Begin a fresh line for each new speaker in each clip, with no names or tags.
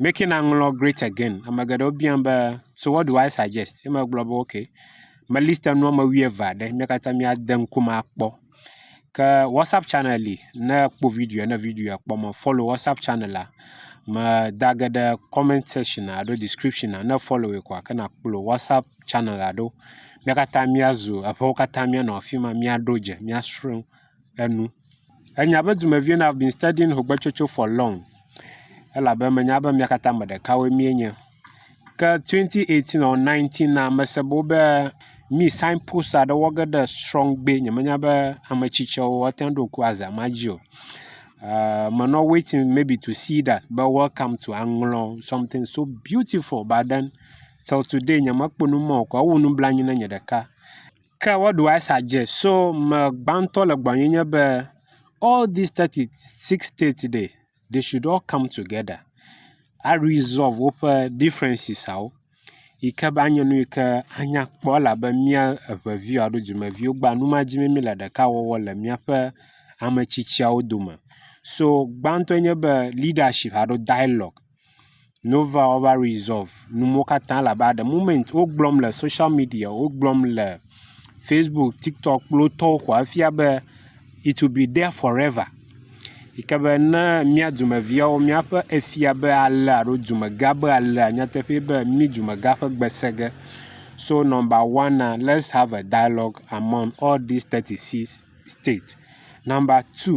Making and ŋlɔ great again. Ame geɖewo biam be so what do I suggest? Ye megblɔ be ok me list enu ame wuieve aɖe mí katã míade ŋkume akpɔ. Ke WhatsApp channel li ne ekpɔ video ne video ekpɔ me follow WhatsApp channel la me da ge ɖe comment section alo description ne follow ye koa ke nakplɔ WhatsApp channel la ɖo. Mía katã míazu eƒewo katã míanɔ afi ma míaɖo dze míasrɔ̃ enu. Enya be dumeviwo na be studying hogbetsotso for long elabe menya be mía katã ame ɖekawoe míenye. Ke twenty eighteen ɔɔ nineteen na mese be wobe mí sign post aɖe wɔ ge ɖe srɔ̃gbe. Nyemenya be ame tsitsiawo woate ŋu aɖo ŋku azã ma dzi o. Eer menɔ waiting maybe to see that be welcome to Aŋlɔ something so beautiful but then till today nyemekpɔ nu ma o koa ewu nublanui na nye ɖeka. Ke woɖo Asa dze so me gbãtɔ le gbɔnye nye be all these thirty six states ɖe they should all come together a resolve woƒe differences awo yi ke be anye nu yi ke anya kpɔ elabe mía eve viwo alo dumeviwo gba nu ma dim be míle ɖeka wɔwɔ le míaƒe ame tsitsiawo dome. So gbãtɔe nye be leadership alo dialogue. Nova ova resɔvu nu mɔ katã labe at de moment wogblɔm le soshial midia, wogblɔm le facebook, tiktok kple wo tɔwo koa efia be it will be there forever yi ke be ne mía dumeviawo míaƒe efia be alea alo dumegã be alea nyateƒee be mí dumegã ƒe gbe sẽ ge. So nɔmba wana lets have a dialogue among all these thirty six state. Nɔmba tu.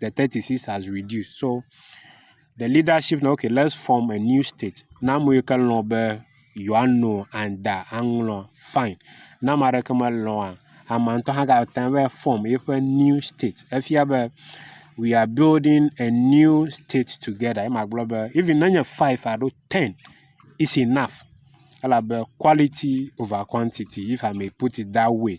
the thirty six has reduced so the leadership na okay let's form a new state na ame yi ke lɔ̃ be yewoa no anda aŋlɔ fine ne ame aɖeke melɔ̃a amea ŋutɔ hã gate ŋu va form eƒe new state efia be we are building a new state together ye magblɔ be even ne nye five alo ten is enough elabe quality over quantity if i may put it that way.